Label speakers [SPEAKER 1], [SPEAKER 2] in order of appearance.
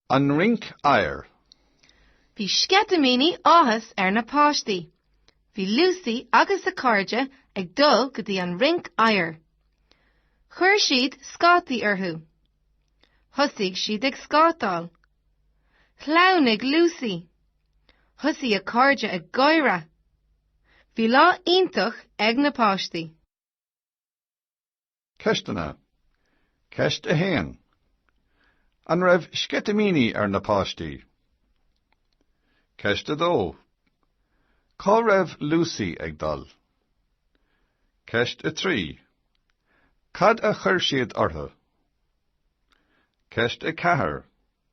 [SPEAKER 1] An Rinc Oighir. Bhí
[SPEAKER 2] sceitimíní áthais ar na páistí. Bhí Lucy agus a cairde ag dul go dtí an Rinc Oighir. Chuir siad scátaí orthu. Thosaigh siad ag scátáil. Shleamhnaigh Lucy. Thosaigh a cairde ag gáire. Bhí lá iontach ag na páistí.
[SPEAKER 1] Ceisteanna. Ceist 1. An raibh sceitimíní ar na páistí? Ceist 2. Cá raibh Lucy ag dul? Ceist 3. Cad a chuir siad orthu? Ceist 4.